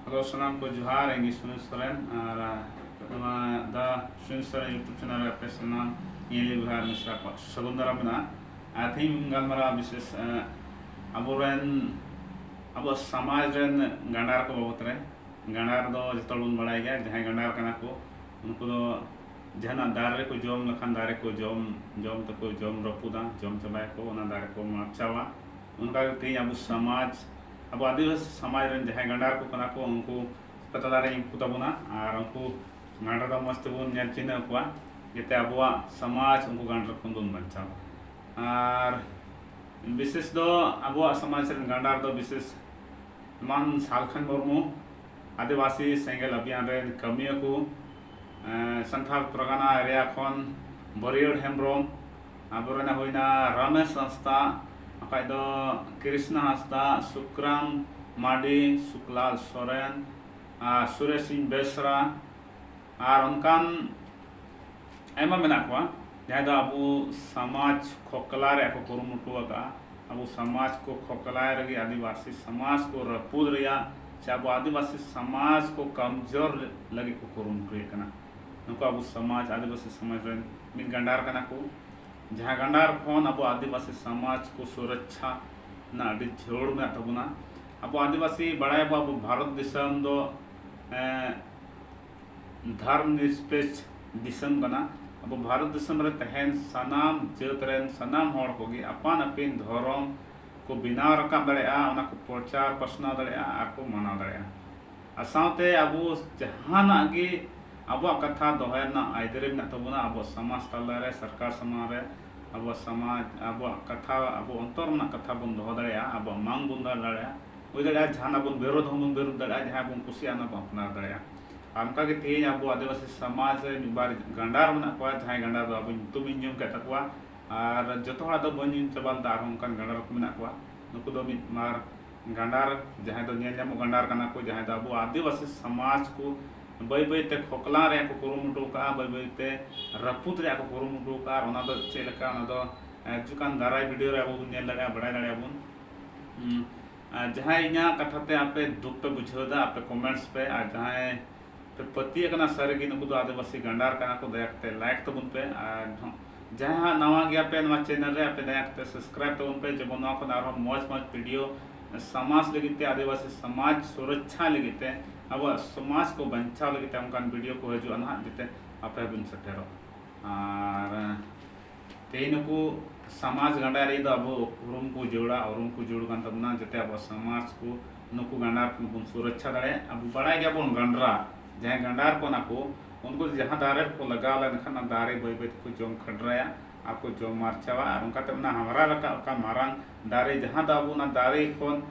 hello ᱥᱟᱱᱟᱢ ᱠᱚ ᱡᱚᱦᱟᱨ ᱤᱧ ᱥᱩᱱᱤᱞ ᱥᱚᱨᱮᱱ ᱟᱨ ᱱᱚᱣᱟ ᱫᱟ ᱥᱩᱱᱤᱞ ᱥᱚᱨᱮᱱ ᱤᱭᱩᱴᱩᱵᱽ ᱪᱮᱱᱮᱞ ᱨᱮ ᱟᱯᱮ ᱥᱟᱱᱟᱢ ᱧᱮᱞᱤ ᱵᱚᱭᱦᱟ ᱢᱤᱥᱨᱟ ᱠᱚᱣᱟᱜ ᱥᱟᱹᱜᱩᱱ ᱫᱟᱨᱟᱢ ᱢᱮᱱᱟᱜᱼᱟ ᱟᱨ ᱛᱮᱦᱮᱧ ᱵᱚᱱ ᱜᱟᱞᱢᱟᱨᱟᱣᱟ ᱵᱤᱥᱮᱥ ᱟᱵᱚᱨᱮᱱ ᱟᱵᱚᱣᱟᱜ ᱥᱚᱢᱟᱡᱽ ᱨᱮᱱ ᱜᱟᱸᱰᱟᱨ ᱠᱚ ᱵᱟᱵᱚᱛ ᱨᱮ ᱜᱟᱸᱰᱟᱨ ᱫᱚ ᱡᱚᱛᱚ ᱦᱚᱲ ᱵᱚᱱ ᱵᱟᱲᱟᱭ ᱜᱮᱭᱟ ᱡᱟᱦᱟᱸᱭ ᱜᱟᱸᱰᱟᱨ ᱠᱟᱱᱟ ᱠᱚ ᱩᱱᱠᱩ ᱫᱚ ᱡᱟᱦᱟᱱᱟᱜ ᱫᱟᱨᱮ ᱨᱮᱠᱚ ᱡᱚᱢ ᱞᱮᱠᱷᱟᱱ ᱫᱟᱨᱮ ᱠᱚ ᱡᱚᱢ ᱡᱚᱢ ᱛᱮᱠᱚ ᱡᱚᱢ ᱨᱟᱹᱯᱩᱫᱟ ᱡᱚᱢ ᱪᱟᱵᱟᱭᱟᱠᱚ ᱚᱱᱟ ᱫᱟᱨᱮ ᱠᱚ ᱢᱟᱯᱪᱟᱣᱟ ᱚᱱᱠᱟ ᱜᱮ ᱛᱮᱦᱮᱧ ᱟᱵᱚ ᱥᱚᱢᱟᱡᱽ ᱟᱵᱚ ᱟᱹᱫᱤᱵᱟᱹᱥᱤ ᱥᱚᱢᱟᱡᱽ ᱨᱮᱱ ᱡᱟᱦᱟᱸᱭ ᱜᱟᱸᱰᱟ ᱠᱚ ᱠᱟᱱᱟ ᱠᱚ ᱩᱱᱠᱩ ᱯᱟᱛᱟᱞᱟ ᱨᱮ ᱩᱱᱠᱩ ᱛᱟᱵᱚᱱᱟ ᱟᱨ ᱩᱱᱠᱩ ᱜᱟᱸᱰᱟ ᱫᱚ ᱢᱚᱡᱽ ᱛᱮᱵᱚᱱ ᱧᱮᱞ ᱪᱤᱱᱦᱟᱹᱣ ᱠᱚᱣᱟ ᱡᱟᱛᱮ ᱟᱵᱚᱣᱟᱜ ᱥᱚᱢᱟᱡᱽ ᱩᱱᱠᱩ ᱜᱟᱸᱰᱟ ᱠᱷᱚᱱ ᱵᱚᱱ ᱵᱟᱧᱪᱟᱣ ᱟᱨ ᱵᱤᱥᱮᱥ ᱫᱚ ᱟᱵᱚᱣᱟᱜ ᱥᱚᱢᱟᱡᱽ ᱨᱮᱱ ᱜᱟᱸᱰᱟ ᱫᱚ ᱵᱤᱥᱮᱥ ᱮᱢᱟᱱ ᱥᱟᱞᱠᱷᱟᱱ ᱢᱩᱨᱢᱩ ᱟᱹᱫᱤᱵᱟᱹᱥᱤ ᱥᱮᱸᱜᱮᱞ ᱟᱵᱷᱤᱭᱟᱱ ᱨᱮᱱ ᱠᱟᱹᱢᱤᱭᱟᱹ ᱠᱚ ᱥᱟᱱᱛᱷᱟᱞ ᱯᱨᱚᱜᱟᱱᱟ ᱮᱨᱤᱭᱟ ᱠᱷᱚᱱ ᱵᱟᱹᱨᱭᱟᱹᱲ ᱦᱮᱢᱵᱨᱚᱢ ᱟᱵᱚᱨᱮᱱ ᱦᱩᱭᱱᱟ ᱨᱟᱢᱮᱥ ᱦᱟᱸᱥᱫᱟ ᱵᱟᱠᱷᱟᱡ ᱫᱚ ᱠᱨᱤᱥᱱᱟ ᱦᱟᱸᱥᱫᱟ ᱥᱩᱠᱨᱟᱢ ᱢᱟᱨᱰᱤ ᱥᱩᱠᱞᱟᱞ ᱥᱚᱨᱮᱱ ᱟᱨ ᱥᱩᱨᱮᱥ ᱥᱤᱝ ᱵᱮᱥᱨᱟ ᱟᱨ ᱚᱱᱠᱟᱱ ᱟᱭᱢᱟ ᱢᱮᱱᱟᱜ ᱠᱚᱣᱟ ᱡᱟᱦᱟᱸᱭ ᱫᱚ ᱟᱵᱚ ᱥᱚᱢᱟᱡᱽ ᱠᱷᱚᱠᱞᱟ ᱨᱮᱭᱟᱜ ᱠᱚ ᱠᱩᱨᱩᱢᱩᱴᱩ ᱟᱠᱟᱫᱼᱟ ᱟᱵᱚ ᱥᱚᱢᱟᱡᱽ ᱠᱚ ᱠᱷᱚᱠᱞᱟᱭ ᱞᱟᱹᱜᱤᱫ ᱟᱹᱫᱤᱵᱟᱹᱥᱤ ᱥᱚᱢᱟᱡᱽ ᱠᱚ ᱨᱟᱹᱯᱩᱫ ᱨᱮᱭᱟᱜ ᱥᱮ ᱟᱵᱚ ᱟᱹᱫᱤᱵᱟᱹᱥᱤ ᱥᱚᱢᱟᱡᱽ ᱠᱚ ᱠᱚᱢᱡᱳᱨ ᱞᱟᱹᱜᱤᱫ ᱠᱚ ᱠᱩᱨᱩᱢᱩᱴᱩᱭᱮᱫ ᱠᱟᱱᱟ ᱱᱩᱠᱩ ᱟᱵᱚ ᱥᱚᱢᱟᱡᱽ ᱟᱹᱫᱤᱵᱟᱹᱥᱤ ᱥᱚᱢᱟᱡᱽ ᱨᱮᱱ ᱢᱤᱫ ᱜᱟᱱᱰᱟᱨ ᱠᱟᱱᱟ ᱠᱚ ᱡᱟᱦᱟᱸ ᱜᱟᱱᱰᱟᱨ ᱠᱷᱚᱱ ᱟᱵᱚ ᱟᱹᱫᱤᱵᱟᱹᱥᱤ ᱥᱚᱢᱟᱡᱽ ᱠᱚ ᱥᱩᱨᱚᱠᱪᱷᱟ ᱨᱮᱱᱟᱜ ᱟᱹᱰᱤ ᱡᱷᱟᱹᱲ ᱢᱮᱱᱟᱜ ᱛᱟᱵᱚᱱᱟ ᱟᱵᱚ ᱟᱹᱫᱤᱵᱟᱹᱥᱤ ᱵᱟᱲᱟᱭᱟᱵᱚ ᱟᱵᱚ ᱵᱷᱟᱨᱚᱛ ᱫᱤᱥᱚᱢ ᱫᱚ ᱫᱷᱚᱨᱢ ᱱᱤᱨᱯᱮᱠᱥ ᱫᱤᱥᱚᱢ ᱠᱟᱱᱟ ᱟᱵᱚ ᱵᱷᱟᱨᱚᱛ ᱫᱤᱥᱚᱢ ᱨᱮ ᱛᱟᱦᱮᱱ ᱥᱟᱱᱟᱢ ᱡᱟᱹᱛ ᱨᱮᱱ ᱥᱟᱱᱟᱢ ᱦᱚᱲ ᱠᱚᱜᱮ ᱟᱯᱟᱱ ᱟᱹᱯᱤᱱ ᱫᱷᱚᱨᱚᱢ ᱠᱚ ᱵᱮᱱᱟᱣ ᱨᱟᱠᱟᱵ ᱫᱟᱲᱮᱭᱟᱜᱼᱟ ᱚᱱᱟ ᱠᱚ ᱯᱨᱚᱪᱟᱨ ᱯᱟᱥᱱᱟᱣ ᱫᱟᱲᱮᱭᱟᱜᱼᱟ ᱟᱨ ᱠᱚ ᱢᱟᱱᱟᱣ ᱫᱟᱲᱮᱭᱟᱜᱼᱟ ᱟᱨ ᱥᱟᱶᱛᱮ ᱟᱵᱚ ᱡᱟᱦᱟᱱᱟᱜ ᱜᱮ ᱟᱵᱚᱣᱟᱜ ᱠᱟᱛᱷᱟ ᱫᱚᱦᱚᱭ ᱨᱮᱱᱟᱜ ᱟᱹᱭᱫᱟᱹᱨᱤ ᱢᱮᱱᱟᱜ ᱛᱟᱵᱚᱱᱟ ᱟᱵᱚᱣᱟᱜ ᱥᱚᱢᱟᱡᱽ ᱛᱟᱞᱟ ᱨᱮ ᱥᱚᱨᱠᱟᱨ ᱥᱟᱢᱟᱝ ᱨᱮ ᱟᱵᱚᱣᱟᱜ ᱥᱚᱢᱟᱡᱽ ᱟᱵᱚᱣᱟᱜ ᱠᱟᱛᱷᱟ ᱟᱵᱚ ᱚᱱᱛᱚᱨ ᱨᱮᱱᱟᱜ ᱠᱟᱛᱷᱟ ᱵᱚᱱ ᱫᱚᱦᱚ ᱫᱟᱲᱮᱭᱟᱜᱼᱟ ᱟᱵᱚᱣᱟᱜ ᱢᱟᱝ ᱵᱚᱱ ᱫᱚᱦᱚ ᱫᱟᱲᱮᱭᱟᱜᱼᱟ ᱦᱩᱭ ᱫᱟᱲᱮᱭᱟᱜᱼᱟ ᱡᱟᱦᱟᱱᱟᱜ ᱵᱚᱱ ᱵᱤᱨᱳᱫᱷ ᱦᱚᱸᱵᱚᱱ ᱵᱤᱨᱳᱫᱷ ᱫᱟᱲᱮᱭᱟᱜᱼᱟ ᱡᱟᱦᱟᱸ ᱵᱚᱱ ᱠᱩᱥᱤᱭᱟᱜᱼᱟ ᱚᱱᱟ ᱵᱚᱱ ᱟᱯᱱᱟᱨ ᱫᱟᱲᱮᱭᱟᱜᱼᱟ ᱟᱨ ᱚᱱᱠᱟ ᱜᱮ ᱛᱮᱦᱮᱧ ᱟᱵᱚ ᱟᱹᱫᱤᱵᱟᱹᱥᱤ ᱥᱚᱢᱟᱡᱽ ᱨᱮ ᱢᱤᱫ ᱵᱟᱨ ᱜᱟᱸᱰᱟᱨ ᱢᱮᱱᱟᱜ ᱠᱚᱣᱟ ᱡᱟᱦᱟᱸᱭ ᱜᱟᱸᱰᱟᱨ ᱫᱚ ᱟᱵᱚ ᱧᱩᱛᱩᱢ ᱤᱧ ᱟᱸᱡᱚᱢ ᱠᱮᱫ ᱛᱟᱠᱚᱣᱟ ᱟᱨ ᱡᱚᱛᱚ ᱦᱚᱲᱟᱜ ᱫᱚ ᱵᱟᱹᱧ ᱟᱸᱡᱚᱢ ᱪᱟᱵᱟ ᱞᱮᱫᱟ ᱟᱨᱦᱚᱸ ᱚᱱᱠᱟᱱ ᱜᱟᱸᱰᱟᱨ ᱠᱚ ᱢᱮᱱᱟᱜ ᱠᱚᱣᱟ ᱱᱩᱠᱩ ᱫᱚ ᱢᱤᱫ ᱵᱟᱨ ᱜᱟᱸᱰᱟᱨ ᱡᱟᱦᱟᱸᱭ ᱫᱚ ᱧᱮᱞ ᱧᱟᱢᱚᱜ ᱜᱟᱸᱰᱟᱨ ᱠᱟᱱᱟ ᱠᱚ ᱡᱟᱦᱟᱸᱭ ᱫᱚ ᱟᱵᱚ ᱟᱹᱫᱤᱵᱟᱹᱥᱤ ᱥᱚᱢᱟᱡᱽ ᱠᱚ ᱵᱟᱹᱭ ᱵᱟᱹᱭ ᱛᱮ ᱠᱷᱚᱠᱞᱟᱣ ᱨᱮᱭᱟᱜ ᱠᱚ ᱠᱩᱨᱩᱢᱩᱴᱩ ᱟᱠᱟᱫᱼᱟ ᱵᱟᱹᱭ ᱵᱟᱹᱭ ᱛᱮ ᱨᱟᱹᱯᱩᱫ ᱨᱮᱭᱟᱜ ᱠᱚ ᱠᱩᱨᱩᱢᱩᱴᱩ ᱟᱠᱟᱫᱼᱟ ᱟᱨ ᱚᱱᱟ ᱫᱚ ᱪᱮᱫ ᱞᱮᱠᱟ ᱚᱱᱟ ᱫᱚ ᱦᱤᱡᱩᱜ ᱠᱟᱱ ᱫᱟᱨᱟᱭ ᱵᱷᱤᱰᱤᱭᱳ ᱨᱮ ᱟᱵᱚ ᱵᱚᱱ ᱧᱮᱞ ᱫᱟᱲᱮᱭᱟᱜᱼᱟ ᱵᱟᱲᱟᱭ ᱫᱟᱲᱮᱭᱟᱜᱼᱟ ᱵᱚᱱ ᱡᱟᱦᱟᱸᱭ ᱤᱧᱟᱹᱜ ᱠᱟᱛᱷᱟ ᱛᱮ ᱟᱯᱮ ᱫᱩᱠ ᱯᱮ ᱵᱩᱡᱷᱟᱹᱣ ᱮᱫᱟ ᱟᱯᱮ ᱠᱚᱢᱮᱱᱴᱥ ᱯᱮ ᱟᱨ ᱡᱟᱦᱟᱸᱭ ᱯᱮ ᱯᱟᱹᱛᱭᱟᱹᱜ ᱠᱟᱱᱟ ᱥᱟᱹᱨᱤ ᱜᱮ ᱱᱩᱠᱩ ᱫᱚ ᱟᱹᱫᱤᱵᱟᱹᱥᱤ ᱜᱟᱱᱰᱟᱨ ᱠᱟᱱᱟ ᱠᱚ ᱫᱟᱭᱟ ᱠᱟᱛᱮ ᱞᱟᱭᱤᱠ ᱛᱟᱵᱚᱱ ᱯᱮ ᱟᱨ ᱡᱟᱦᱟᱸᱭ ᱦᱟᱸᱜ ᱱᱟᱣᱟ ᱜᱮᱭᱟ ᱯᱮ ᱱᱚᱣᱟ ᱪᱮᱱᱮᱞ ᱨᱮ ᱟᱯᱮ ᱫᱟᱭᱟ ᱠᱟᱛᱮ ᱥᱟᱵᱥᱠᱨᱟᱭᱤᱵ ᱛᱟᱵᱚᱱ ᱯᱮ ᱡᱮᱢᱚᱱ ᱱᱚᱣᱟ ᱠᱷᱚᱱ ᱟᱨᱦᱚᱸ ᱢᱚᱡᱽ ᱢᱚᱡᱽ ᱵᱷᱤᱰᱤᱭᱳ ᱥᱚᱢᱟᱡᱽ ᱞᱟᱹᱜᱤᱫ ᱛᱮ ᱟᱹᱫᱤᱵᱟᱹᱥᱤ ᱥᱚᱢᱟᱡᱽ ᱥᱩᱨᱚᱠᱪᱷᱟ ᱞᱟᱹᱜᱤᱫ ᱛᱮ ᱟᱵᱚᱣᱟᱜ ᱥᱚᱢᱟᱡᱽ ᱠᱚ ᱵᱟᱧᱪᱟᱣ ᱞᱟᱹᱜᱤᱫ ᱛᱮ ᱚᱱᱠᱟᱱ ᱵᱷᱤᱰᱤᱭᱳ ᱠᱚ ᱦᱤᱡᱩᱜᱼᱟ ᱱᱟᱦᱟᱜ ᱡᱟᱛᱮ ᱟᱯᱮ ᱵᱚᱱ ᱥᱮᱴᱮᱨᱚᱜ ᱟᱨ ᱛᱮᱦᱮᱧ ᱱᱩᱠᱩ ᱥᱚᱢᱟᱡᱽ ᱜᱟᱱᱰᱟᱨᱤ ᱫᱚ ᱟᱵᱚ ᱩᱨᱩᱢ ᱠᱚ ᱡᱟᱹᱨᱩᱲᱟ ᱩᱨᱩᱢ ᱠᱚ ᱡᱟᱹᱨᱩᱲ ᱠᱟᱱ ᱛᱟᱵᱚᱱᱟ ᱡᱟᱛᱮ ᱟᱵᱚᱣᱟᱜ ᱥᱚᱢᱟᱡᱽ ᱠᱚ ᱱᱩᱠᱩ ᱜᱟᱸᱰᱟᱨ ᱠᱷᱚᱱ ᱵᱚᱱ ᱥᱩᱨᱚᱠᱪᱷᱟ ᱫᱟᱲᱮᱭᱟᱜᱼᱟ ᱟᱵᱚ ᱵᱟᱲᱟᱭ ᱜᱮᱭᱟᱵᱚᱱ ᱜᱟᱸᱰᱨᱟ ᱡᱟᱦᱟᱸᱭ ᱜᱟᱸᱰᱟᱨ ᱠᱟᱱᱟ ᱠᱚ ᱩᱱᱠᱩ ᱡᱟᱦᱟᱸ ᱫᱟᱨᱮ ᱨᱮᱠᱚ ᱞᱟᱜᱟᱣ ᱞᱮᱱᱠᱷᱟᱱ ᱚᱱᱟ ᱫᱟᱨᱮ ᱵᱟᱹᱭ ᱵᱟᱹᱭ ᱛᱮᱠᱚ ᱡᱚᱢ ᱠᱷᱟᱰᱨᱟᱭᱟ ᱟᱨ ᱠᱚ ᱡᱚᱢ ᱢᱟᱨᱪᱟᱣᱟ ᱟᱨ ᱚᱱᱠᱟᱛᱮ ᱚᱱᱟ ᱦᱟᱢᱨᱟ ᱨᱟᱠᱟᱵ ᱟᱠᱟᱱ ᱢᱟᱨᱟᱝ ᱫᱟᱨᱮ ᱡᱟᱦᱟᱸ ᱫᱚ ᱟᱵᱚ ᱚᱱᱟ ᱫᱟᱨᱮ ᱠᱷᱚᱱ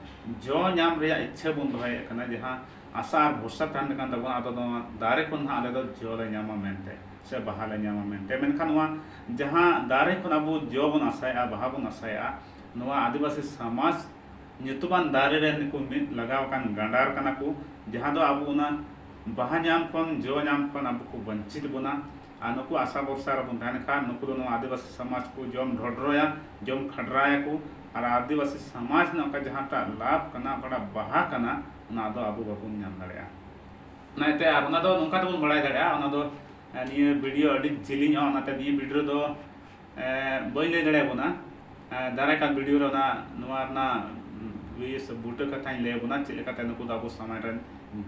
ᱡᱚ ᱧᱟᱢ ᱨᱮᱭᱟᱜ ᱤᱪᱪᱷᱟᱹ ᱵᱚᱱ ᱫᱚᱦᱚᱭᱮᱫ ᱠᱟᱱᱟ ᱡᱟᱦᱟᱸ ᱟᱥᱟ ᱟᱨ ᱵᱷᱚᱨᱥᱟ ᱛᱟᱦᱮᱱ ᱠᱟᱱ ᱛᱟᱵᱚᱱᱟ ᱟᱫᱚ ᱱᱚᱣᱟ ᱫᱟᱨᱮ ᱠᱷᱚᱱ ᱦᱟᱸᱜ ᱟᱞᱮ ᱫᱚ ᱡᱚ ᱞᱮ ᱧᱟᱢᱟ ᱢᱮᱱᱛᱮ ᱥᱮ ᱵᱟᱦᱟ ᱞᱮ ᱧᱟᱢᱟ ᱢᱮᱱᱛᱮ ᱢᱮᱱᱠᱷᱟᱱ ᱱᱚᱣᱟ ᱡᱟᱦᱟᱸ ᱫᱟᱨᱮ ᱠᱷᱚᱱ ᱟᱵᱚ ᱡᱚ ᱵᱚᱱ ᱟᱥᱟᱭᱮᱫᱼᱟ ᱵᱟᱦᱟ ᱵᱚᱱ ᱟᱥᱟᱭᱮᱫᱼᱟ ᱱᱚᱣᱟ ᱟᱹᱫᱤᱵᱟᱹᱥᱤ ᱥᱚᱢᱟᱡᱽ ᱧᱩᱛᱩᱢᱟᱱ ᱫᱟᱨᱮ ᱨᱮ ᱱᱩᱠᱩ ᱢᱤᱫ ᱞᱟᱜᱟᱣ ᱟᱠᱟᱱ ᱜᱟᱸᱰᱟᱨ ᱠᱟᱱᱟ ᱠᱚ ᱡᱟᱦᱟᱸ ᱫᱚ ᱟᱵᱚ ᱚᱱᱟ ᱵᱟᱦᱟ ᱧᱟᱢ ᱠᱷᱚᱱ ᱡᱚ ᱧᱟᱢ ᱠᱷᱚᱱ ᱟᱵᱚ ᱠᱚ ᱵᱟᱧᱪᱤᱛ ᱵᱚᱱᱟ ᱟᱨ ᱱᱩᱠᱩ ᱟᱥᱟ ᱵᱚᱨᱥᱟ ᱨᱮᱵᱚᱱ ᱛᱟᱦᱮᱱ ᱠᱷᱟᱱ ᱱᱩᱠᱩ ᱫᱚ ᱱᱚᱣᱟ ᱟᱹᱫᱤᱵᱟᱹᱥᱤ ᱥᱚᱢᱟᱡᱽ ᱠᱚ ᱡᱚᱢ ᱰᱷᱚᱰᱨᱚᱭᱟ ᱡᱚᱢ ᱠᱷᱟᱰᱨᱟᱭᱟᱠᱚ ᱟᱨ ᱟᱹᱫᱤᱵᱟᱹᱥᱤ ᱥᱚᱢᱟᱡᱽ ᱨᱮᱱᱟᱜ ᱚᱠᱟ ᱡᱟᱦᱟᱸᱴᱟᱜ ᱞᱟᱵᱷ ᱠᱟᱱᱟ ᱚᱠᱟᱴᱟᱜ ᱵᱟᱦᱟ ᱠᱟᱱᱟ ᱚᱱᱟ ᱫᱚ ᱟᱵᱚ ᱵᱟᱵᱚᱱ ᱧᱟᱢ ᱫᱟᱲᱮᱭᱟᱜᱼᱟ ᱚᱱᱟᱛᱮ ᱟᱨ ᱚᱱᱟ ᱫᱚ ᱱᱚᱝᱠᱟ ᱛᱮᱵᱚᱱ ᱵᱟᱲᱟᱭ ᱫᱟᱲᱮᱭᱟᱜᱼᱟ ᱚᱱᱟ ᱫᱚ ᱱᱤᱭᱟᱹ ᱵᱷᱤᱰᱤᱭᱳ ᱟᱹᱰᱤ ᱡᱤᱞᱤᱧᱚᱜᱼᱟ ᱚᱱᱟᱛᱮ ᱱᱤᱭᱟᱹ ᱵᱷᱤᱰᱤᱭᱳ ᱫᱚ ᱵᱟᱹᱧ ᱞᱟᱹᱭ ᱫᱟᱲᱮ ᱟᱵᱚᱱᱟ ᱫᱟᱨᱟᱭ ᱠᱟᱱ ᱵᱷᱤᱰᱤᱭᱳ ᱨᱮ ᱚᱱᱟ ᱱᱚᱣᱟ ᱨᱮᱱᱟᱜ ᱵᱤᱥ ᱵᱩᱴᱟᱹ ᱠᱟᱛᱷᱟᱧ ᱞᱟᱹᱭ ᱟᱵᱚᱱᱟ ᱪᱮᱫ ᱞᱮᱠᱟᱛᱮ ᱱᱩᱠᱩ ᱫᱚ ᱟᱵᱚ ᱥᱚᱢᱟᱡᱽ ᱨᱮᱱ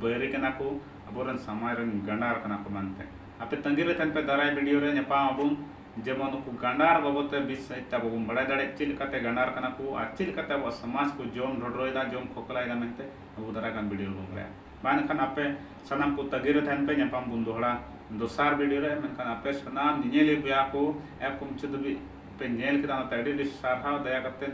ᱵᱟᱹᱭᱨᱤ ᱠᱟᱱᱟ ᱠᱚ ᱟᱵᱚᱨᱮᱱ ᱥᱚᱢᱟᱡᱽ ᱨᱮᱱ ᱜᱟᱸᱰᱟᱨ ᱠᱟᱱᱟ ᱠᱚ ᱢᱮᱱᱛᱮ ᱟᱯᱮ ᱛᱟᱺᱜᱤ ᱨᱮ ᱛᱟᱦᱮᱱ ᱯᱮ ᱫᱟᱨᱟᱭ ᱵᱷᱤᱰᱤᱭᱳ ᱨᱮ ᱧᱟᱯᱟᱢ ᱟᱵᱚᱱ ᱡᱮᱢᱚᱱ ᱱᱩᱠᱩ ᱜᱟᱸᱰᱟᱨ ᱵᱟᱵᱚᱫ ᱛᱮ ᱵᱤᱥ ᱥᱟᱺᱦᱤᱡ ᱛᱮ ᱟᱵᱚ ᱵᱚᱱ ᱵᱟᱲᱟᱭ ᱫᱟᱲᱮᱜ ᱪᱮᱫ ᱞᱮᱠᱟᱛᱮ ᱜᱟᱸᱰᱟᱨ ᱠᱟᱱᱟ ᱠᱚ ᱟᱨ ᱪᱮᱫ ᱞᱮᱠᱟᱛᱮ ᱟᱵᱚᱣᱟᱜ ᱥᱚᱢᱟᱡᱽ ᱠᱚ ᱡᱚᱢ ᱰᱷᱚᱰᱨᱚᱭᱮᱫᱟ ᱡᱚᱢ ᱠᱷᱚᱠᱞᱟᱭᱮᱫᱟ ᱢᱮᱱᱛᱮ ᱟᱵᱚ ᱫᱟᱨᱟᱭ ᱠᱟᱱ ᱵᱷᱤᱰᱤᱭᱳ ᱨᱮᱵᱚᱱ ᱵᱟᱲᱟᱭᱟ ᱵᱟᱝ ᱮᱱᱠᱷᱟᱱ ᱟᱯᱮ ᱥᱟᱱᱟᱢ ᱠᱚ ᱛᱟᱹᱜᱤ ᱨᱮ ᱛᱟᱦᱮᱱ ᱯᱮ ᱧᱟᱯᱟᱢ ᱵᱚᱱ ᱫᱚᱦᱲᱟ ᱫᱚᱥᱟᱨ ᱵᱷᱤᱰᱤᱭᱳ ᱨᱮ ᱢᱮᱱᱠᱷᱟᱱ ᱟᱯᱮ ᱥᱟᱱᱟᱢ ᱧᱮᱧᱮᱞᱤᱭᱟᱹ ᱵᱚᱭᱟ ᱠᱚ ᱮᱯ ᱠᱚ ᱢᱩᱪᱟᱹᱫ ᱫᱷᱟᱹᱵᱤᱡ ᱯᱮ ᱧᱮᱞ ᱠᱮᱫᱟ ᱚᱱᱟᱛᱮ ᱟᱹᱰᱤ ᱟᱹᱰᱤ ᱥᱟᱨᱦᱟᱣ ᱫᱟᱭᱟ ᱠᱟᱛᱮ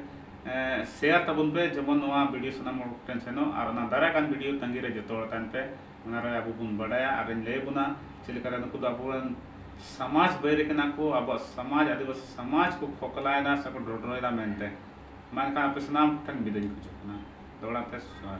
ᱥᱮᱭᱟᱨ ᱛᱟᱵᱚᱱ ᱯᱮ ᱡᱮᱢᱚᱱ ᱱᱚᱣᱟ ᱵᱷᱤᱰᱤᱭᱳ ᱥᱟᱱᱟᱢ ᱦᱚᱲ ᱴᱷᱮᱱ ᱥᱮᱱᱚᱜ ᱟᱨ ᱚᱱᱟ ᱫᱟᱨᱟᱭ ᱠᱟᱱ ᱵᱷᱤᱰᱤᱭᱳ ᱛᱟᱹᱜᱤ ᱨᱮ ᱡᱚᱛᱚ ᱦᱚᱲ ᱛᱟᱦᱮᱱ ᱯᱮ ᱚᱱᱟᱨᱮ ᱟᱵᱚ ᱵᱚᱱ ᱵᱟᱰᱟᱭᱟ ᱟᱨᱤᱧ ᱞᱟᱹᱭ ᱵᱚᱱᱟ ᱪᱮᱫ ᱞᱮᱠᱟᱨᱮ ᱱᱩᱠᱩ ᱫᱚ ᱟᱵᱚᱨᱮᱱ ᱥᱚᱢᱟᱡᱽ ᱵᱟᱹᱭᱨᱤ ᱠᱟᱱᱟ ᱠᱚ ᱟᱵᱚᱣᱟᱜ ᱥᱚᱢᱟᱡᱽ ᱟᱹᱫᱤᱵᱟᱹᱥᱤ ᱥᱚᱢᱟᱡᱽ ᱠᱚ ᱠᱷᱚᱠᱞᱟᱭᱮᱫᱟ ᱥᱮᱠᱚ ᱰᱚᱰᱨᱚᱭᱮᱫᱟ ᱢᱮᱱᱛᱮ ᱢᱟ ᱮᱱᱠᱷᱟᱱ ᱟᱯᱮ ᱥᱟᱱᱟᱢ ᱠᱚᱴᱷᱮᱱ ᱵᱤᱫᱟᱹᱭᱤᱧ ᱠᱷᱚᱡᱚᱜ ᱠᱟᱱᱟ ᱫᱚᱦᱲᱟ ᱛᱮ ᱡᱚᱦᱟᱨ